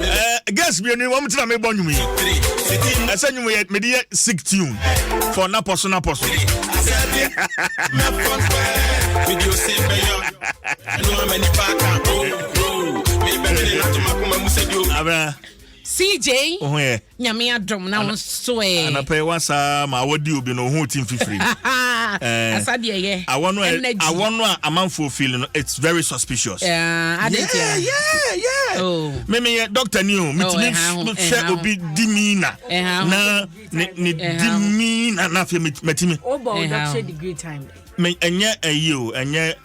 Eh, girls mmienu yi wɔn ti na mi bɔ nnwom yi ɛsɛ nnwom yɛ mede yɛ sick tune for napɔ so napɔ so. abira. cj. ohun yɛ. Nyame adom na wo nso ɛ. Anapa yi wasa ma awɔ di obi no ohun ti mfifiri. Asa deɛ yɛ. Awɔ no ɛ awɔ no a amanfoɔ feel no it's very suspicious. Adetia. Yeah yeah yeah. Oh. Me me yɛ doctor ni o. Me ti mi hwɛ obi di mi na. Na ne ne di mi na na afei me ti mi. O bɔ o doctor degree time. Me ɛnyɛ ɛyi o ɛnyɛ.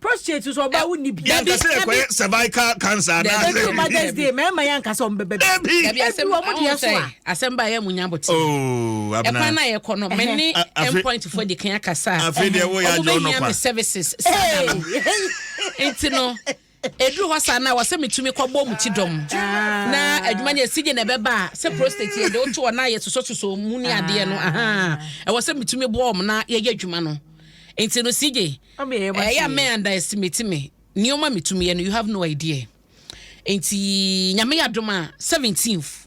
prostrate so ɔbaa wonni bi. yɛn kasa yɛ kɔyɛ cervical cancer anaasɛ. ebi mother's day mɛɛma yɛn kasa ɔmo bɛbɛ bi. ebi ebi ɔmo deɛ so a. asɛm ba yɛ mu nya bɔ ti. ooo oh, abena ɛkwan na yɛ kɔ no mɛ ne endpoint fo de kan akasa. afei deɛ wo yɛ adi ɔnɔ pa. ɔmo bɛ hia mi services saa da no nti no. Ɛduru hɔ saa no a, wɔsɛ metumi kɔbɔ mu ti dɔm. Na adwuma no yɛ sigye na ɛbɛba a, sɛ prostate yɛde woto hɔ na yɛsosɔsosɔ mu ne adeɛ no, ɛwɔ sɛ metumi boa wɔn na yɛyɛ adwuma no. Nti no sigye, ɛyɛ a mɛ underestimate me, nneɛma metumi yɛ no, you have no idea. Nti Nyame yɛ adom a, 17th.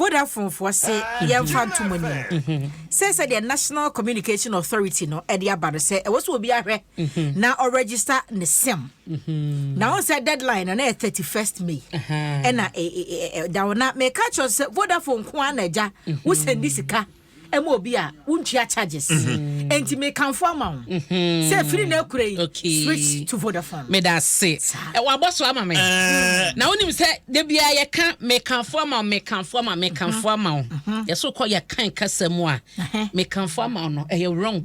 Vodafonefoɔ se yɛmfa nto mo anim mhm. sɛ sɛdeɛ National Communication Authority no de aba no sɛ ɛwɔ sɛ obi ahwɛ mhm. na ɔregister ne sim mhm. na wɔn sɛ deadline no na yɛ thirty first May ɛna e, e, e, da hɔ na mɛka kyerɛ sɛ Vodafone nko ara na agya wosɛn di sika ɛma obi a wontua charges mm-hmm. enti mekamfo ama wo mm-hmm. sɛ firi na akura yi switch to vodafone meda ase wabɔ so ama me eh. na wonim sɛ da biara yɛka mekamfo ama wo mekamfo ama mekamfo mm-hmm. ama wo yɛso kɔ yɛkan kasa mu a mekamfo ama wo no ɛyɛ wrong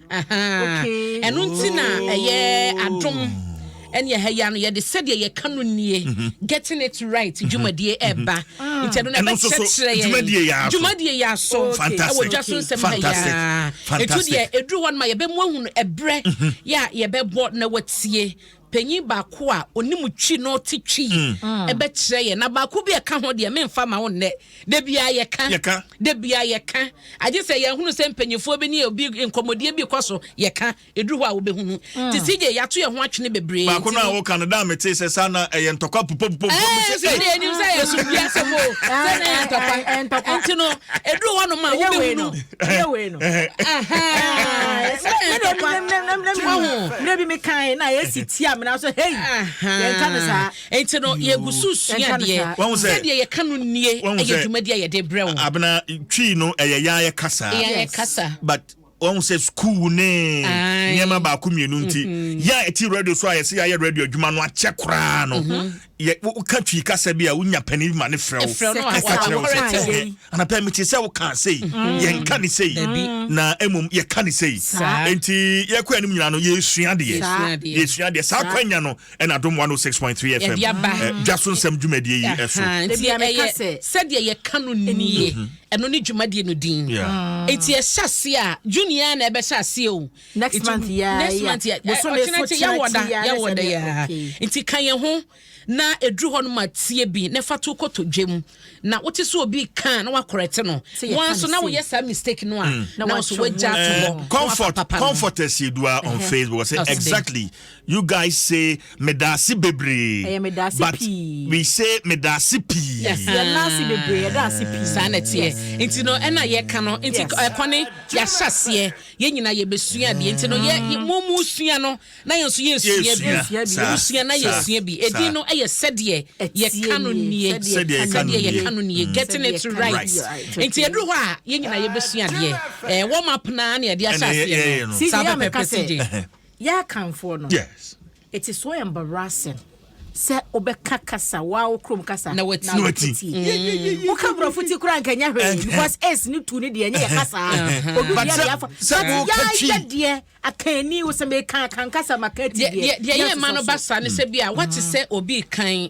Ahaa. Ɛno nti na ɛyɛ adom ɛne ɛha yi ano yɛde sɛdeɛ yɛka no nie getting it right dwumadie ɛba nti ɛno na Ɛno nso so, ɛbɛkyerɛkyerɛ yɛn dwumadie yɛ aso. dwumadie yɛ aso Fantastic. ɛwɔ dwa so nsɛm ha Fantastic. yɛa ɛtu Fantastic. deɛ ɛduru hɔ no ma yɛbɛmu ahunu ɛberɛ yɛ a yɛbɛbɔ na watie Panyin baako a onim twi na ɔte twi mm. bɛkyerɛ yɛn, na baako bi a ɛka ho deɛ memfa ma wo nnɛ. Da biara yɛka, da biara yɛka. Agye sɛ yɛhunu sɛ mpanyinfoɔ bi ne obi nkɔmmɔdie bi kɔ so yɛka, ɛduru hɔ a wobɛhunu. Mm. Te sɛ gye yɛato yɛn ho atwene bebree. Baako no a woka no daa metee sɛ saa na ɛyɛ ntɔkwa pupopupom. Ɛnim sɛ yɛ so biasɛm o, sɛ na yɛ ntɔkwa. Nti no, ɛduru hɔ nom a wobɛhunu. yɛ wei no mmerɛ bi mekae na yɛsi ti amena so hei yɛnka no saa nti no yɛgu so sua deɛ sɛdeɛ yɛka no nnie ɛyɛ dwumadi a yɛde brɛ wo abena twii no ɛyɛ yɛayɛ kasa yɛayɛ kasa but wɔn sɛ sukuu ne nneɛma baako mmienu nti mm-hmm. yɛ a ɛti radio so a yɛsɛ yɛayɛ radio adwuma no akyɛ koraa no mm-hmm. yɛ woka twi kasa bi a wonya panin bi ma ne frɛ wo ɛka kyerɛ wo sɛ anapa mete sɛ woka sei mm. yɛnka ne sei na mmom yɛka ne sei enti yɛkɔ anim nyina no yɛsua deɛ yɛsua deɛ saa kwanya no ɛna dom 106.3 fm eh, dwa so nsɛm dwumadie yi ɛso sɛdeɛ yɛka no nie mhm. ɛno ne dwumadie no din enti ɛhyɛ aseɛ a junia na ɛbɛhyɛ aseɛ o next month ya next month ya bosome so kyena wɔda ya wɔda ya nti ka yɛn ho na eduru hɔ no ma tie bi na fa to kɔtɔ dwam na wote so obi kan na wakɔrɛte no wɔn so na woyɛ saa mistake no a mm. na wɔn so wagya to hɔ eh, comfort comfort ɛsiedua on facebook say exactly you guys say medase bebree eh, but we say medase pii yɛnase bebree yɛdase pii saa na teɛ nti no ɛna yɛka no nti ɛkɔne yɛahyɛ aseɛ Yɛn nyinaa yɛbɛsua bi. Enti no, yɛ, yɛ, mo, mosua no, na yɛn nso yɛresua bi. Yɛresua bi, yeah. Mosua na Saa, yɛresua bi. Edin saa. no yɛ Sɛdeɛ Ɛteɛ Yɛka No Nie. Nie. Sɛdeɛ Sɛdeɛ Yɛka No Sɛdeɛ Nie. Yɛka No Nie. Mm. Getting Sɛdeɛ it Yɛka No right. Right. Nie. Right. Enti Okay. ɛduru hɔ a, yɛn nyinaa yɛbɛsua adeɛ. Ɛɛ, warm up no ara na yɛde ahyɛ Ɛna yɛ, aseɛ no. yɛyɛ no. CJ, Saa yɛ a meka pɛpɛpɛ, sɛ, CJ. Ɛhɛ. yɛ akanfoɔ no, Yes. Eti so ɔyɛ mbarasing sɛ wobɛka kasa waa wo kurom kasa na wati na wati mm. woka borɔfo ti koraa nka nyɛ hwee because ace ne tu ne deɛ ɛnyɛ yɛ kasaa odu deɛ deɛ afa yɛayɛ deɛ akanni wo sɛ meka akankasa maka ti deɛ deɛ yɛ ma no basa ne sɛ bi a wate sɛ obi kan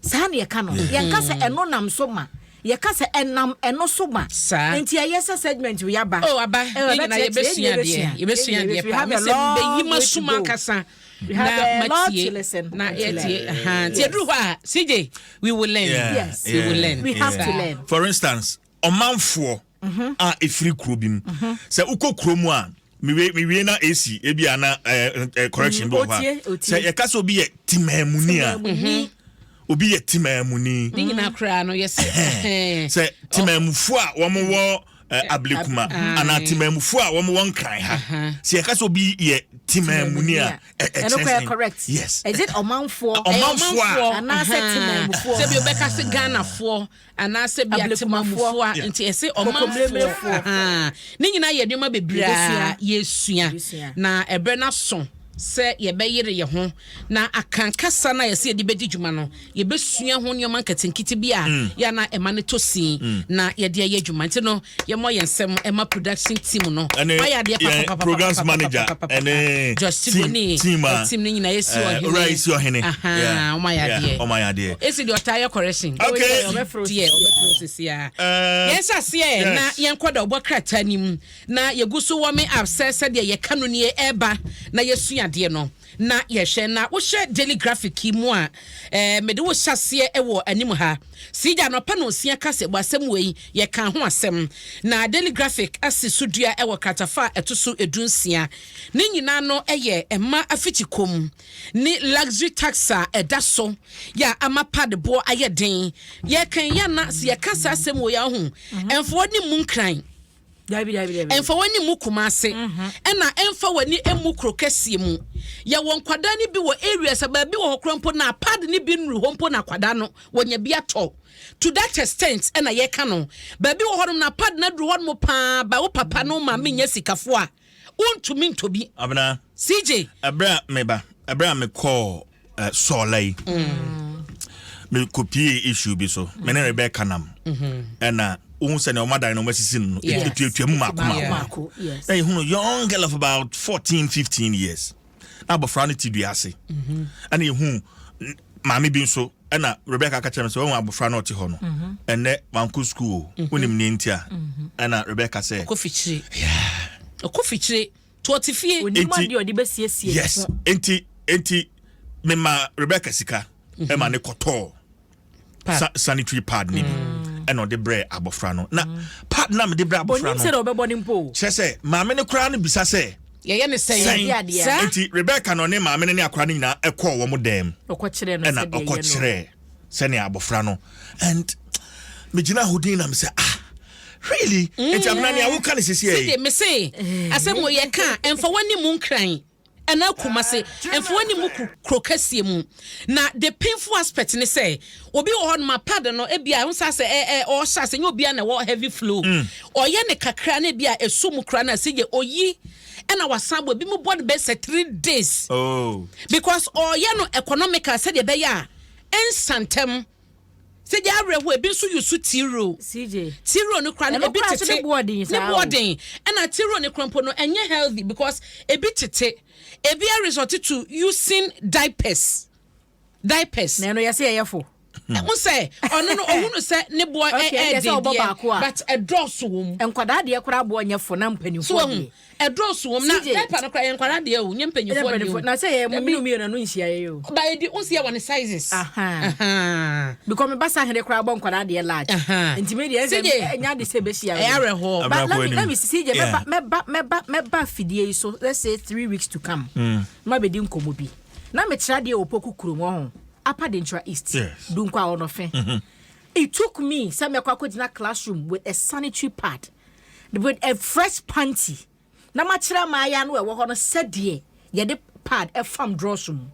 Saa na yɛka no. Yɛnka sɛ ɛno nam so ma. Yɛka sɛ ɛnam ɛno so ma. Saa. Nti ɛyɛ sɛ segment wei aba. Oh, aba. Yɛn nyinaa yɛbɛsua adeɛ. Yɛbɛsua adeɛ paa. Mɛ sɛ mbɛyi ma sum ankasa. Na matie. Na yɛtie. Nti ɛduru hɔ a, CJ, we will learn. Yes. We will learn. We have to learn. For instance, ɔmanfoɔ mhm. a ɛfiri kuro bi mu mhm. sɛ wokɔ kuro mu a mewie na ɛsi ebi a na correction bi wɔ hɔ a sɛ yɛka sɛ obi yɛ timaamuni a mhm. obi yɛ timaamuni sɛ timaamufo a wɔwɔ Eh, eh, ablekuma ah, anaa eh. temamufoɔ a wɔn wɔn nkran ha sɛ yɛka sɛ obi yɛ temamuni a ɛkyɛnsɛn yes ɛdze ɔmanfoɔ ɔmanfoɔ a anaasɛ temamufoɔ sɛbi ɔbɛka se ghanafoɔ Anaasɛ ebia Ablekumafoɔ, Temamufoɔ a, nti ɛse Ɔmanfoɔ, Kokomleemlefoɔ. ahaa, ne nyinaa yɛ nneɛma bebree a Yɛbɛsua. yɛresua, Yɛbɛsua. na ɛberɛ no aso sɛ yɛbɛyere yɛn ho na aka kasa no a yɛse yɛde bɛdi dwuma no, yɛbɛsua ho nneɛma nketenkete bi a yɛ a na ɛma no tɔ sin na yɛde ayɛ adwuma. Nti no, Yɛmmɔ yɛn nsam mma production team no. Wɔayɛ adeɛ papapapapapapapapapa. Josh Tigoni, team no nyinaa, Esi Ɔhene. Ahaa, wɔayɛ adeɛ. Esi deɛ ɔtaa yɛ correction. Okay. Ɔbɛforo deɛ, ɔbɛforo sesiaa. Yɛnhyɛ aseɛ na yɛnkɔ dawubɔ krataa no mu na yɛgu so warming up sɛ sɛdeɛ yɛka no nie, ɛreba na yɛasua adeɛ no. Na yɛhwɛ na wohwɛ Daily Graphic yi mu a, ɛɛ mede wo hyɛaseɛ wɔ anim ha. Sii gya anɔpa nonsia kaseɛbɔ asɛm wei, yɛkaa ho asɛm. Na Daily Graphic asi so dua wɔ kratafa a ɛto so du nsia. Ne nyinaa no yɛ mmaa afikyi kɔm ne luxury tax a ɛda so yɛ a ama pad boɔ ayɛ den. Yɛkan yi a na sɛ yɛka saa asɛm wei a, wohu, ɛmfa w'anim mu nkran. Dabi, dabi, dabi. Ɛmfa w'ani mmu kuma ase, mhm. ɛna ɛmfa w'ani mmu kuro kɛseɛ mu. Yɛwɔ nkwadaa no bi wɔ areas a baabi wɔ hɔ koraa mpo na pad no bi nnuru hɔ mpo na akwadaa no wɔnya bi atɔ. To that extent ɛna yɛka no. Baabi wɔ hɔnom na pad no aduru hɔnom paa ba wo papa no maame nyɛ sikafoɔ a Wontumi ntɔ bi. Abena. CJ. Ɛberɛ a meba, ɛberɛ a mekɔɔ eh, sɔɔla yi. Mm. Mekɔpie issue bi so. Mm. Me ne Rebecca nam. Mm-hmm. Ɛna wohu sɛnea wɔn adan no wɔn asisi no ɛtuatua mu mako mako. Na yɛhunu young girl of about fourteen fifteen years. na abɔfra no te dua ase mhm. ɛna ehu maame bi nso ɛna rebeka aka kyerɛ no sɛ wɔn abɔfra no ɔte hɔ no mhm. ɛnɛ wanko sukuu o mhm. wonim nea nti a ɛna rebeka sɛ ɔkɔ fikyire ɔkɔ fikyire to ɔte fie onim adeɛ ɔde bɛsiesie yes nti nti mema rebeka sika ɛma ne kɔtɔɔ pad sanitary pad ne bi mm. ɛna ɔde brɛ abɔfra no na mm. pad na mede brɛ abɔfra no kyerɛ sɛ maame no koraa no bisa sɛ yɛyɛ ne sɛn nti rebeka na ɔne maame no ne akora no nyinaa ɛkɔɔ wɔn dɛm ɛna ɔkɔkyerɛ sɛnea abɔfra no and megyina ahodin na mesɛ ah really nti mm. abena nea woka ne sisiɛ yi mese asɛm yɛka ɛmfa w'ani mu nkran Ɛna Kumasi mfoa ne Muku kuro kɛseɛ mu. Na the painful aspect ne sɛ obi wɔ hɔ nom a pad no ebia ɛho saa sɛ ɛ ɛ ɔhyɛ ase nyɛ obia na ɛwɔ heavy flow. Mm. Ɔyɛ ne kakra na ebia ɛsɔ mu kura na sɛ yɛ oyi ɛna wasan bɔ ebi mu bɔ no bɛ sɛ three days. Oh. Because ɔyɛ no economical sɛdeɛ ɛbɛyɛ a ɛnsa ntɛm. CJ awerɛhoɔ ebi nso yɛ su tiro. CJ tiro no kora no ebi tete ne boɔden saa ne boɔden ɛna tiro no kora mpo no ɛnyɛ healthy because ebi tete ebi a result to using diapers diapers. Na ɛno yɛsɛ yɛyɛ fo. Hmm. mo sɛ ɔno no ɔhunu sɛ ne boɔ ɛɛden deɛ but ɛdɔɔso wɔ mu nkwadaa deɛ koraa boɔ nyɛ fo na mpanimfoɔ deɛ Ɛdɔɔso wɔ mu na diaper no koraa yɛ nkwadaa deɛ o nyɛ mpanyinfoɔ deɛ o. Na sɛ yɛ mo mmienu mmienu ano nhyia yɛ yɛ o. Ba yɛ di nsia wɔ ne sizes. Because me ba Sahene koraa bɔ nkwadaa deɛ large. Nti me deɛ ɛsɛ ɛnya de sɛ ɛbɛhyia yɛ. Ɛyɛ awerɛhoɔ. But let me let me see CJ mɛba mɛba mɛba mɛba afidie yi so let's say three weeks to come. Ma bɛ di nkɔmɔ bi. Na me tra deɛ opoku kuro mu ɔho apa de ntra east. Dunkwa ɔnɔfe. It took me sɛ mɛkɔ akɔgyina classroom with a sanitary pad. with a fresh panty na makyerɛ ama ayɛ ano ɛwɔ hɔ no sɛdeɛ yɛde pad ɛfam drɔs mu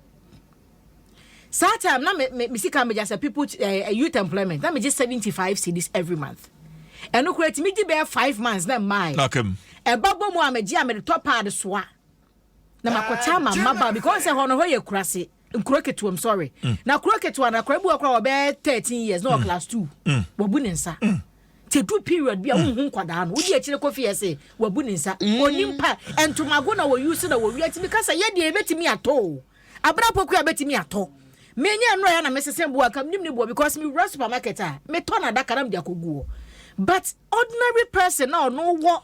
saa time na me me sika megya sɛ people uh, youth employment na megye seventy five cedis every month ɛno koraa ti megye bɛyɛ five months na mmaa ɛba bɔ mu a megye a mede tɔ pad soa na makɔtaa ma mmabaa bi kɔn sɛ hɔ no hɔ yɛ kurase nkuro ketewa mu sɔre mm. na kuro ketewa na akora bi wɔ kora wɔbɛyɛ thirteen years na wɔ mm. class two mm. wɔbu ne nsa te du period bi a wohu nkwadaa no wodi akyire kɔ fie ɛsɛ wabu ne nsa onim pa ntomago na wɔyi so na wɔwia tumi kasa yɛ deɛ ebetumi atɔ o abena poku a betumi atɔ menya nnuro yɛ na mesese boa kam nim ne boa because me wura supermarket a metɔ na adaka na mede akɔgu hɔ but ordinary person na ɔno wɔ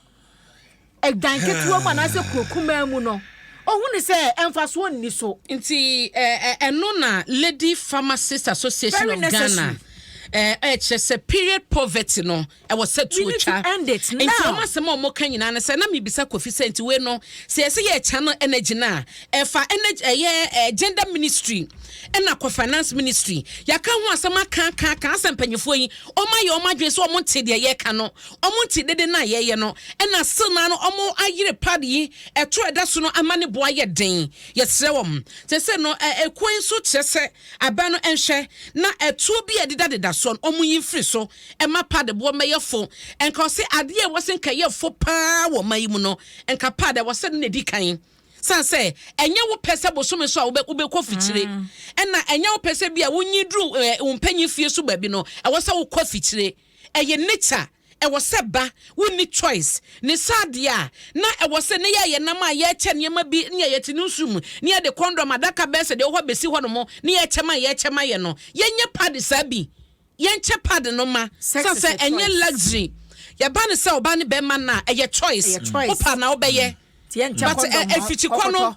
dan ketewa mu anaasɛ kuro kumaa mu no, ɔhu ne sɛ mfasoɔ nni so. Nti ɛno na Lady Pharmacist Association of Ghana ɛkyerɛ sɛ period poverty no ɛwɔ sɛ tuo twa. Nti wɔn asɛm a wɔka nyinaa no sɛ na mebisa Kofi sɛ nti wei no sɛ yɛsɛ yɛ channel energy no a ɛfa energy ɛyɛ gender ministry ɛna kɔ finance ministry yɛaka ho asɛm aka aka aka asɛ mpanyinfoɔ yi wɔn ayɛ wɔn adwene sɛ wɔn nte deɛ yɛka no Ɔmo nti dede no a yɛyɛ no na still naa no ɔmo ayere pad yi ɛto ɛda so no ama ne bo ayɛ den yɛsrɛ wɔn seisei no ekuo yi nso kyerɛ sɛ abɛn no nhwɛ na ɛtuo bi a ɛdeda deda soɔ no ɔmo yi mfiri so ɛma pad boɔ mmɛyɛ fo nka ɔsɛ adeɛ a ɛwɔ sɛ nka ɛyɛ fo paa wɔ ɔman yi mu no nka pad ɛwɔ sɛ no na edi kan san sɛ ɛnyɛ wo pɛ sɛ bosome so a wobɛ wobɛkɔ fikyire ɛna ɛnyɛ wo pɛ sɛ bi a wonyi duru ɛɛ wo mpanyin fie so baabi no ɛwɔ sɛ wokɔ fikyire. ɛyɛ nature a ɛwɔ sɛ ba wonni choice ne sɛ adeɛ a na ɛwɔ sɛ ne yɛyɛ nam a yɛkyɛ nneɛma bi ne yɛyɛ te no nsu mu ne yɛde kɔndɔm adaka bɛyɛ sɛ deɛ ɛwɔ hɔ bɛsi hɔ nom ne yɛkyɛ ma yɛkyɛ ma yɛ no yɛnyɛ pad saa bi yɛnkyɛ pad no ma sɛ sɛ ɛnyɛ luxury yɛba ne sɛ ɔba ne bɛma no a ɛyɛ choice wopɛ anaa wobɛyɛ but ɛfikyi kɔ no.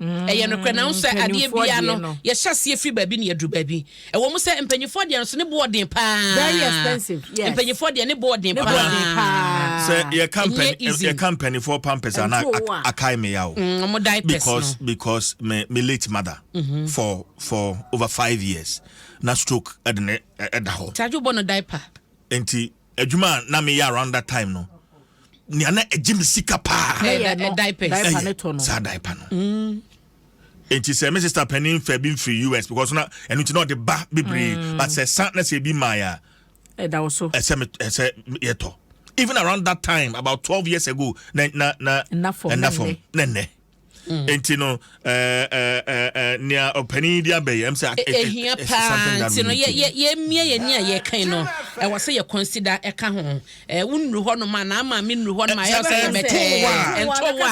Ɛyɛ nokorɛ, nanso sɛ adeɛ biara no, yɛhyɛ aseɛ firi baabi na yɛduru baabi. Ɛwɔ mu sɛ mpanimfoɔ deɛ nso ne bo ɔden paa. Very expensive, yes. Mpanimfoɔ deɛ ne bo ɔden paa. Ne bo ɔden paa. Sɛ yɛka mpan yɛka mpanimfoɔ pampers a na akae me ya o. Mm, wɔn diapers no. Because because me me late mother mm -hmm. for for over five years na stroke ɛde ne ɛda hɔ. Tajo bɔ no diaper. Nti. Adwuma a na meyɛ around that time no, nea na ɛgye me sika paa. Ɛyɛ diapers. Ɛyɛ saa diaper no. Mm. Nti sɛ me sister panin fɛ bi mfiri US because na ɛno nti na ɔde ba bebree mm. but sɛ san na sɛ ebi maa yɛ a. Ɛda wo so. Ɛsɛ me ɛsɛ yɛtɔ. Even around that time about twelve years ago na na na. Ɛnna fam. Ɛnna fam. Ɛnna Mm. nti no eh, eh, eh, nea ɔpanin yi de abɛyi ɛm sɛ ɛhia paa nti no yɛmmia yɛni a yɛkan no ɛwɔ sɛ yɛ consider ɛka ho wo nnuru hɔ nom a na ama me nnuru hɔ nom a ɛyɛ sɛ yɛbɛtɛɛ ntowa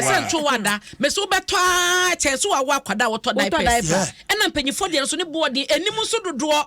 ɛsɛ ntowa da mɛsɛ wobɛtɔ a kyɛn sɛ wawo akwadaa wotɔ diapers ɛna mpanyinfoɔ deɛ nso ne boɔden anim nso dodoɔ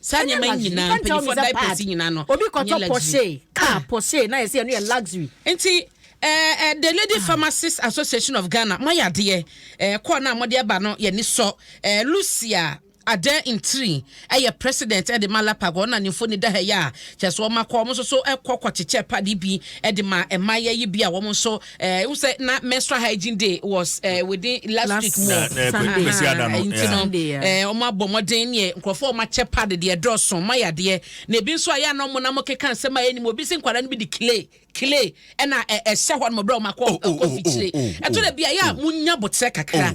Saa Ɛnyɛ nneɛma yi luxury. nyinaa, Yɛka nkyerɛ wo mpanyinfoɔ sɛ diapers pad. yi nyinaa no, Obi ɛnyɛ kɔtɔ luxury. Porsche, car Ah. Porsche, na yɛsɛ ɛno yɛ luxury. Nti ɛɛ ɛɛ the Lady Ah. Pharmacist Association of Ghana mo ayɛ adeɛ ɛɛ kɔɔ no a mode ɛba no yɛ ani sɔ ɛɛ Lucia Adan Ntiri ɛyɛ president ɛde ma LAPAG wɔn na ne mfoni da ha yi a kyerɛ sɛ wɔn akɔ wɔn nso so ɛkɔ kɔ kyekyɛ pad yi bi ɛde ma mmaayɛ yi bi a wɔn nso eh, wo sɛ na menstrual hygiene day was eh, within last, last week more nti no eh, ɔmo abɔ mmɔden neɛ nkurɔfoɔ ɔmo akyɛ pad deɛ ɛdɔɔso ɔmo ayɛ adeɛ na ebi nso ayɛ anɔ ɔmo na ɔmo keka nsɛm a ɛnim obi si nkwadaa no bi de clay clay ɛna ɛhyɛ hɔ nom berɛ ɔmo akɔ akɔ fikyire ɛtɔ dɛ bi a yɛ a mo nya botrɛ kakra.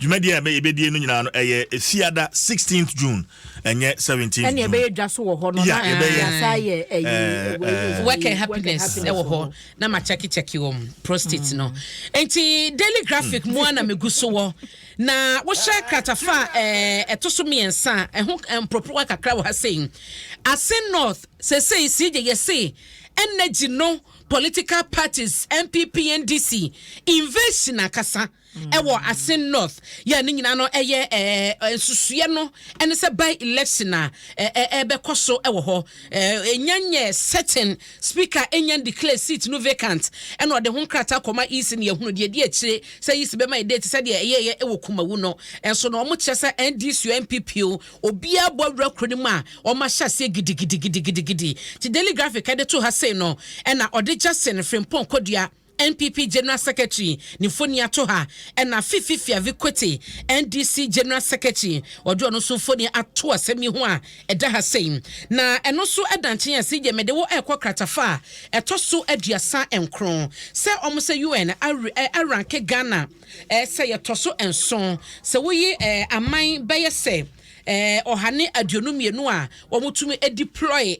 Dwumadie a yɛbɛdie no nyinaa no ɛyɛ Fiada 16th June ɛnyɛ 17th June. Ɛna ɛbɛyɛ dwa so wɔ hɔ no na yɛasa yɛ ɛyi. Work and happiness ɛwɔ hɔ na ma kyɛke kyɛke wɔn prostate no. Nti Daily Graphic mu a na megu so wɔ na wohyɛ kratafa ɛto so mmiɛnsa ɛho mporoporowa kakra wɔ ha sei. Ase North sesei si gye yɛ se energy no political parties NPP NDC invasion akasa. ɛwɔ Asin North yɛ ne nyinaa no ɛyɛ ɛɛ nsusuɛ no ɛne sɛ by election a ɛɛ ɛbɛkɔ so ɛwɔ hɔ ɛɛ enya nyɛ certain speaker enya declare seat no vacant ɛna ɔde ho nkrataa kɔma EC na yɛhunu deɛ ɛdi akyire sɛ EC bɛma yɛ date sɛdeɛ ɛyɛ yɛ ɛwɔ Kumawu no ɛnso na wɔn kyerɛ sɛ NDC o NPP o obiara bɔ awura kuro no mu a wɔn ahyɛ aseɛ gidigidigidigidi ti daily graphic ɛde to ha sei no ɛna ɔde Jackson Frimpong Kodua NPP General Secretary ne mfoni ato ha, ɛna Fifi Fiavi Kwete, NDC General Secretary, wɔde ɔno nso mfoni ato asɛm yi ho a ɛda ha sei. Na ɛno nso da nkyen a CJ mede wo rekɔ kratafa a ɛtɔ so aduasa nkron sɛ wɔn sɛ UN aranke Ghana sɛ yɛtɔ so nson sɛ woyi aman bɛyɛ sɛ ɔha ne aduonu mmienu a wɔtumi deploy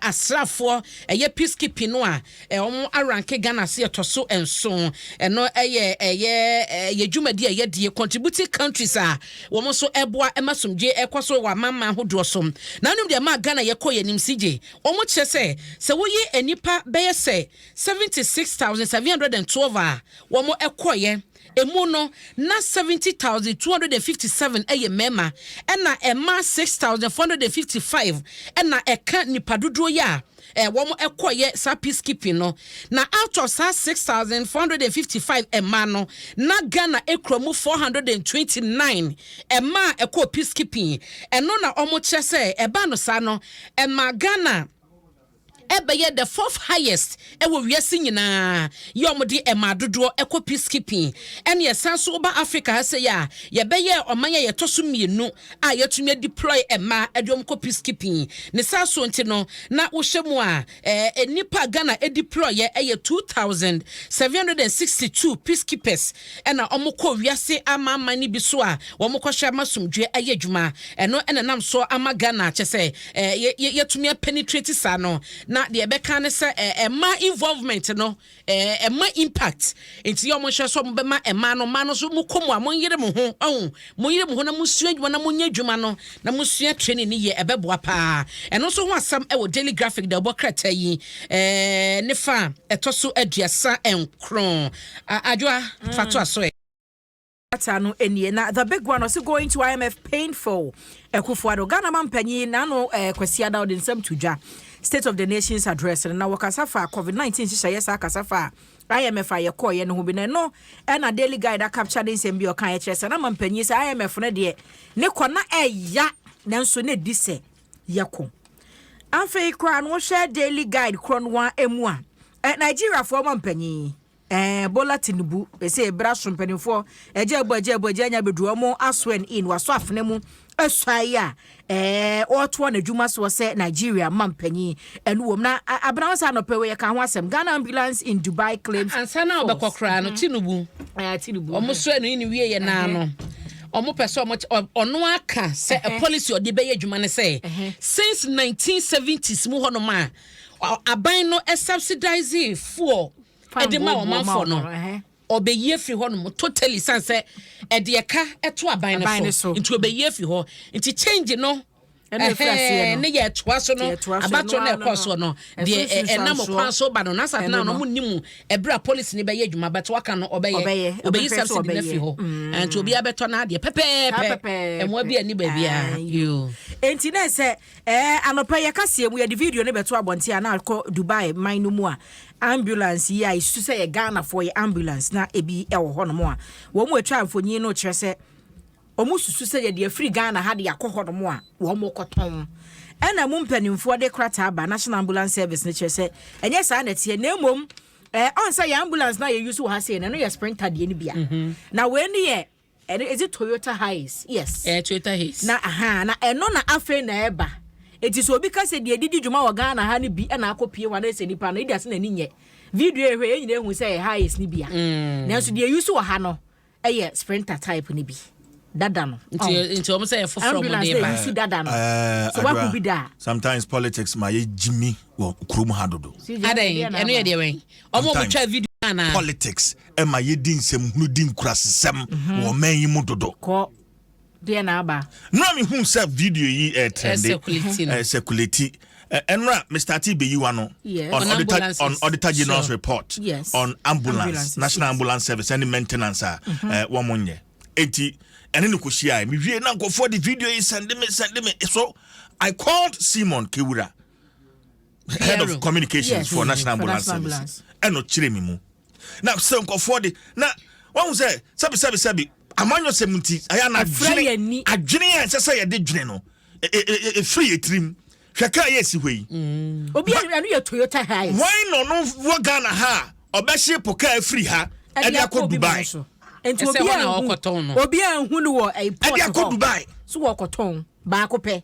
asraafoɔ ɛyɛ peacekeeping no a wɔn aranke Ghana se ɛtɔ so nson ɛno ɛyɛ ɛyɛ ɛyɛ dwumadi a yɛdie contributing countries a wɔn nso ɛboa ɛma somdwe ɛkɔ so wɔ amamman ahodoɔ so na anum deɛ ɛma Ghana yɛkɔ yɛn nim si gye wɔn kyerɛ sɛ sɛ woyi nnipa bɛyɛ sɛ seventy six thousand seven hundred and twelve a wɔn ɛkɔyɛ Emu no, na 70,257 yɛ mmarima, ɛnna mmaa 6,455 na ɛka nnipa dodoɔ yi a wɔkɔeɛ saa peacekeeping no. Na out of saa 6,455 mmaa no, na Ghana kura mu 429 mmaa a ɛkɔɔ peacekeeping. Ɛno na wɔkyerɛ sɛ ɛbaa no saa no, ɛmaa Ghana. ɛbɛyɛ the fourth highest wɔ wiase nyinaa yɛ wɔde ɛmaa dodoɔ kɔ peacekeeping ɛne ɛsan nso woba Africa ha sɛ yɛ a yɛbɛyɛ ɔman a yɛtɔ so mmienu a yɛtumi adeploy ɛmaa ɛde wɔn kɔ peacekeeping ne saa so nti no na wohyɛ mu a ɛɛ nnipa a Ghana adeploy yɛ ɛyɛ 2762 peacekeepers Ɛna wɔkɔ wiase amanaman no bi so a wɔkɔhwɛ ama asomdwoeɛ ayɛ adwuma. Ɛno na ɛnam so ama Ghana kyɛ sɛ yɛ yɛatumi a penetrate saa no. Na deɛ ɛbɛka ara ne sɛ ɛma involvement no ɛma impact. Nti yɛ wɔnhwɛ sɛ wɔbɛma mmaa no, mmaa no nso mokɔ mu a monyere mo ho. Wahu? Monyere mo ho na monsua adwuma na monyɛ adwuma no na monsua training no yie, ɛbɛboa paa. Ɛno nso ho asɛm wɔ Daily Graphic deɛ wɔbɔ krataa yi ne fa a ɛtɔ so aduasa nkron. Adwoa, fa toa so ɛ. Krataa no nie, na the big one ɔse going to IMF painful. Akufo-Addo, Ghana mampanyin n'ano eh, Kwasi Ada ɔde nsɛm to dwa State of the Nation's Address no, na wɔkasa faa Covid-19 nhyehyɛeɛ saa kasa faa IMF a yɛkɔeɛ no ho bi, na ɛno na Daily Guide akapkya ne nsɛm bi a ɔkaeɛ kyerɛ sɛ na ma mpanyin sɛ IMF no deɛ ne kɔ na ɛya nanso na ɛdi sɛ yɛkɔ. Afei koraa no wohwɛ Daily Guide korɔ no ara mu a, eh, Nigeriafoɔ ma mpanyin eh, Bola Tinubu ɛsɛ ɛbra so mpanimfoɔ agya abu agya abu agya anya bɛduru ɔmo aswen in waso afena mu suae a ɔretoa n'adwuma soɔ sɛ Nigeria mampanyin. Ɛno wom na abena wo sɛ anɔpɛ wei yɛka ho asɛm. Ghana ambulance in Dubai claims force. Ansa na ɔbɛkɔ koraa no, Tinubu, ɔmo soɛ no ne wieɛ naa no, ɔmo pɛ sɛ ɔmo, ɔno aka sɛ a policy ɔde bɛyɛ adwuma ne sɛ, since 1970s mu hɔnom a aban no subsidizing fuel ɛde ma ɔmanfoɔ no, Ɔbɛyi afiri hɔnom totally san sɛ ɛde ɛka ɛto aban no so nti ɔbɛyi afi hɔ nti change no ɛhɛn ne yɛ ɛtoa so no abato na ɛkɔ soɔ no deɛ ɛnam kwan so ba no na asate na ɔmo ni mu ɛberɛ a policy ne bɛyɛ adwuma bɛto aka no ɔbɛyɛ ɔbɛyi subsidy no afi hɔ nti obiara bɛtɔ n'adeɛ pɛpɛɛpɛ ɛmoa bi ani baabiara yoo nti na ɛsɛ Ɛɛ, anɔpa yi yɛ kaseɛ mu yɛde video no bɛto abɔnten a na akɔ Dubai man no mu a ambulance yi a yɛsusu sɛ yɛ Ghanafoɔ yɛ ambulance na ebi wɔ hɔnom a wɔn a ɛtwa mfonyin no kyerɛ sɛ wɔn susu sɛ yɛde afiri Ghana ha de akɔ hɔnom a wɔn rekɔtɔn ɛna mu mpanimfoɔ de krataa ba National Ambulance Service no kyerɛ sɛ ɛnyɛ saa na ɛteɛ na mmom ɛɛ ɔn sɛ yɛ ambulance na yɛ use wɔ ha sei na ɛno yɛ sprinter deɛ no bia mhm. na wei no yɛ Ɛno is it Toyota Hiace yes. Ɛyɛ Toyota Hiace. Na ahaa na ɛno na afei na ɛba eti sɛ obi ka sɛ deɛ ɛde di dwuma wɔ Ghana ha no bi na akɔ pie hɔ anaasɛ nipa no edi ase na ani nyɛ video yɛ hwɛ yɛn nyinaa ehu sɛ ɛyɛ Hiace no bi a mm. nanso deɛ use wɔ ha no ɛyɛ Sprinter type no bi dada no. nti oh. nti wɔn sɛ yɛ foforɔ wɔn de ba ɛyusu dada no eh, so wakɔ bi da. sometimes politics ma yɛ gyimi wɔ kurom ha dodo. adan ɛno yɛ deɛ wɛn wɔn a wɔn twa video naa. politics ɛma yɛdi nsɛmhunu di nkurasesɛm mhm. wɔ ɔman yi mu dodo kɔ deɛ na aba nora mehu sɛ video yi eh, trɛnde eh, sɛkulati eh, ɛnora mr t bɛyi wa no on auditor general's report on ambulance national ambulance service ɛne maintenance a mhm. wɔn nyɛ enti ɛne no kɔhyia mewie na nkɔfoɔ de video yi sɛnde me sɛnde me so i called simon kewura head of communications for national ambulance service ɛna ɔkyerɛ me mu na sɛ nkɔfoɔ de na wɔn sɛ sɛbi sɛbi sɛbi amanyɔ sɛm nti ɛyɛ na adwene adwene a ɛsɛ sɛ yɛde dwene no efiri yɛ tirim hwɛ kaa yɛ esi hɔ yi. Mm. obi ɛnu yɛ toyota hiace. wɔn na ɔno wɔ ghana ha ɔbɛhye po kaa efiri ha ɛde akɔ dubai. nti obi a ehu obi a ehu no wɔ ɛyi pɔt hɔ ɛde akɔ dubai. so wɔkɔtɔn baako pɛ.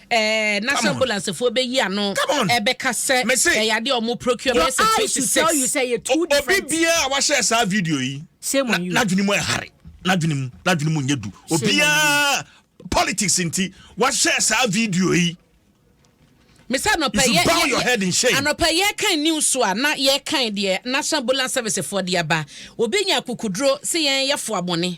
Ɛɛ, na sɛ ambulansefoɔ bɛyi ano bɛka sɛ ɛyɛ adeɛ a wɔn procure bɛyɛ sɛ twenty six. Obi biara a wahyɛ saa video yi, n'adwene mu ɛhare, n'adwene mu, n'adwene mu nyɛ du. Obiara politics nti wahyɛ saa video yi. Mesa anɔpɛ yɛ yɛ anɔpɛ yɛ kan news a na yɛ kan deɛ national ambulance service foɔ de aba. Obi nya kukuduro sɛ yɛn yɛ fo abɔne.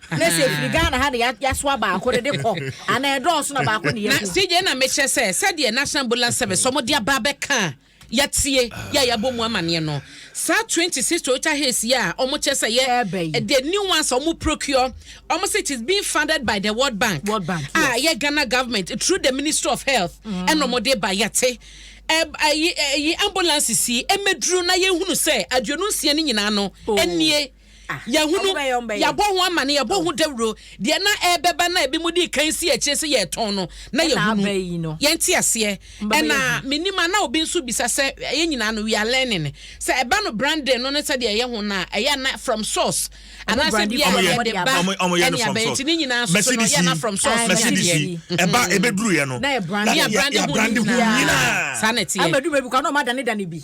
na sɛ ɛfiri ah. ghana ha na yɛasoa baako no de kɔ anaa ɛdɔɔso na baako ne yɛku sɛ yei na mekyerɛ sɛ sɛdeɛ national ambulance service ɔmo de aba bɛka a yɛatie yɛ a yɛabɔ mu amaneɛ no saa 26 toyota hays yɛ a ɔmo kyerɛ sɛ yɛ the new ones ɔmo procure ɔmo sɛ it is being funded by the world bank world bank a yɛ ghana government through the ministry of health mm. ɛna ɔmo de ba yɛte ɛyi ambulances yi ɛmɛduru na yɛhunu sɛ aduonu nsia no nyinaa no ɛnie oh. Yɛahunu, yɛabɔ ho amane, yɛabɔ ho dawuro. Deɛ na ɛrebɛba na ebi mu di kan si akyire sɛ yɛretɔn no, na yɛhunu. Yɛnte aseɛ. Ɛna menim a na obi nso bisa sɛ ɛyɛ nyinaa no we are learning. Sɛ ɛba no branding no ne sɛdeɛ ɛyɛ ho no a, ɛyɛ na from source. Anaasɛ bi a yɛde ba ɛne abɛn nti ne nyinaa nso no yɛ na from source. Ɛba ɛbɛduruyɛ no, na yɛ branding ho nyinaa. Saa na ɛteɛ. Ɛbɛduruyɛ bi kora na ɔma danedane bi.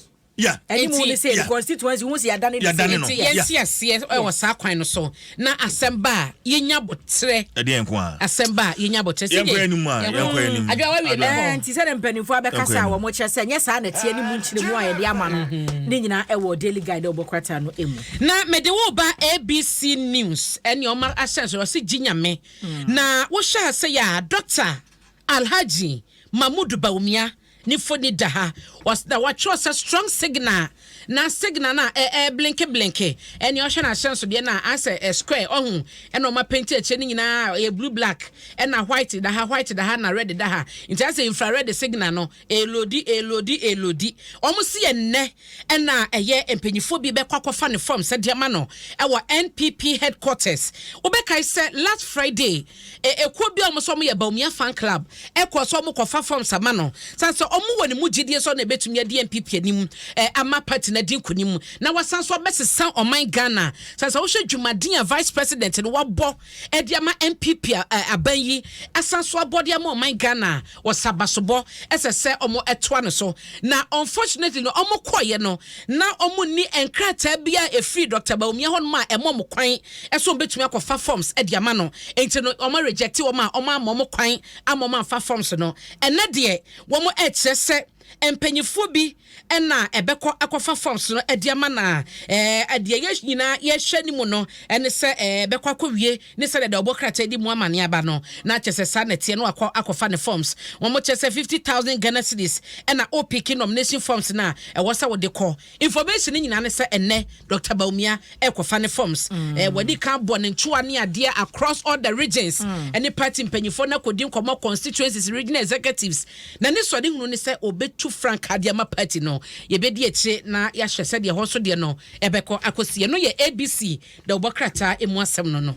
Anim ne sɛ the constituency wohu sɛ yɛadane no sɛ. Enti yɛnte aseɛ wɔ saa kwan no so na asɛm ba a yɛnya aboterɛ. Ɛdeɛ nko a. Asɛm ba a yɛnya aboterɛ. Yɛnkɔ anim a yɛnkɔ anim. Adwoa wawie ne hɔ. Nti sɛdeɛ mpanimfoɔ abɛkasa a wɔkyerɛ sɛ nyɛ saa na ɛteɛ ne mu nkyerɛmu a yɛde ama no ne nyinaa ɛwɔ Daily Guide a wɔbɔ krataa no mu. Na mede wo ba ABC News ɛne ɔma ahyɛnso ɔse gye nyame na wohyɛ ase yɛ a Dɔkta Alhaji Mahmood Bawumia Ne mfoni da ha. Wɔs na wɔatwerɛ sɛ strong signal na signal no a ɛ ɛreblinke blinke. Ɛnneɛ wohwɛ n'ahyɛnsodeɛ no a, ayɛ sɛ ɛ square, ɔhu? Ɛna wɔapenti akyire no nyinaa a ɛyɛ blue black. Ɛna white da ha, white da ha na red da ha. Nti ayɛ sɛ infrared signal no ɛreloadi, ɛreloadi, ɛreloadi. Wɔse ɛnnɛ na ɛyɛ mpanimfoɔ bi bɛkɔ akɔfa ne forms de ama no wɔ NPP headquarters. Wobɛkae sɛ last Friday, E Ekuo bi a wɔn sɛ wɔyɛ Bawumia Fan Club kɔɔ so wɔkɔfa forms ama no sane sɛ wɔn wɔ ne mu gyedie sɛ ɔno na ɛbɛtumi adi NPP anim ama party no adi nkunim na wasan nso abɛsesa ɔman Ghana. Sane sɛ wohwɛ dwumaden a Vice President no wabɔ de ama NPP a aban yi asan so abɔ de ama ɔman Ghana a, Wɔsa basobɔ ɛsɛ sɛ ɔmo ɛtoa no so na unfortunately no ɔmo kɔɔyɛ no na ɔmo nni nkrataa biaa a ɛfiri Doctor Bawumia hɔ nom a ɛma ɔmo kwan sɛ ɔmo bɛtumi akɔ fa forms ɛde ama no nti no ɔmo rejecte ɔmo a ɔmo amma ɔmo kwan amma ɔmo amfa forms no ɛnɛ deɛ wɔn ɛkyerɛ sɛ Mpanyimfoɔ bi na ɛbɛkɔ akɔfa forms no de ama na ɛɛ deɛ yɛ nyinaa yɛhwɛ ne mu no ne sɛ ɛɛ bɛkɔ akɔwie ne sɛ deɛ ɔbɔ krataa di mu ama ne aba no na kyɛ sɛ saa na ɛteɛ no wakɔ akɔfa ne forms wɔn kyɛ sɛ fifty thousand Ghana cedis ɛna opiki nomination forms no a ɛwɔ sɛ wode kɔ Information no nyinaa ne sɛ ɛnnɛ Doctor Bawumia ɛrekɔfa ne forms. Eh, Wadi kan abɔ ne ntoa ne adeɛ across all the regions ɛne party mpanyinfoɔ na kɔdi nkɔmmɔ constituencies, regional executives. Na ne sɔre hunu ne sɛ ɔbɛtu frankaa de ama party no. Yɛbɛdi akyire na yɛahwɛ sɛdeɛ ɛhɔ nso deɛ no ɛbɛkɔ akɔsi. Ɛno yɛ ABC. da wobɔ krataa emu asɛm no no.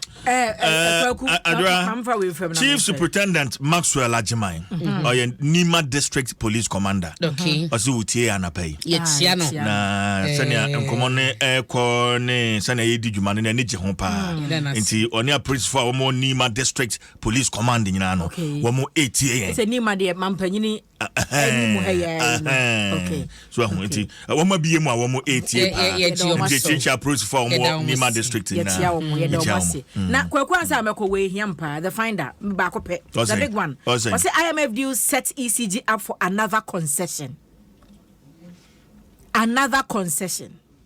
chief superintendent maxwell agyeman mhm. ɔyɛ nima district police commander ɔse wotie anapa yi yɛtia no na sɛnea nkɔmmɔ no ɛkɔ ne sɛnea yɛdi dwuma no no ani gye ho paa mm. nti ɔne apolisifo a wɔmɔ nima district police command nyinaa no wɔmɔ ɛtie yɛn so ahu nti wɔn abie mu a wɔn etie paa nti ekyirikyi apolisifoɔ a wɔn wɔ nima district nyinaa yɛkyia wɔn yɛda wɔn ase na kwaku ansa a mɛkɔ wɔ ehiam paa the finder baako pɛ the big one ɔsɛ imf deal set ecg up for another concession another concession.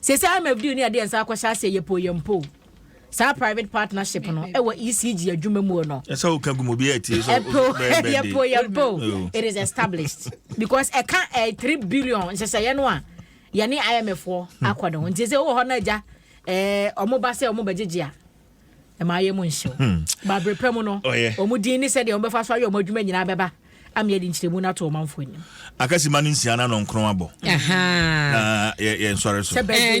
Seesei IMF de yɛn de yɛn nsa akɔhyɛ aseɛ yɛpɛ o yɛmpɛ o. Saa private partnership no wɔ ECG adwuma mu o no. Ɛsɛ sɛ woka gu mu obiara tie sɛ Ɛpɛ o, ɔbɛyɛ birthday. yɛpɛ o yɛmpɛ o, Ɛyɛ o. it is established because ɛka ɛɛ three billion nhyehyɛeɛ no a yɛne IMF foɔ akɔ no ho. Nti sɛ wowɔ hɔ na agya ɛɛ wɔn ba sɛ wɔn bɛgyegye a, ɛma ayɛ mu nhyew hmm. baberɛ pɛ mu no ɔmu din ne sɛdeɛ wɔbɛfa so ayɛ ɔmo adwuma nyinaa bɛba ama yɛde nkyerɛmu no ato ɔmanfo anim akasima no nsia no ano nkron abɔ na yɛnsɔre so eh,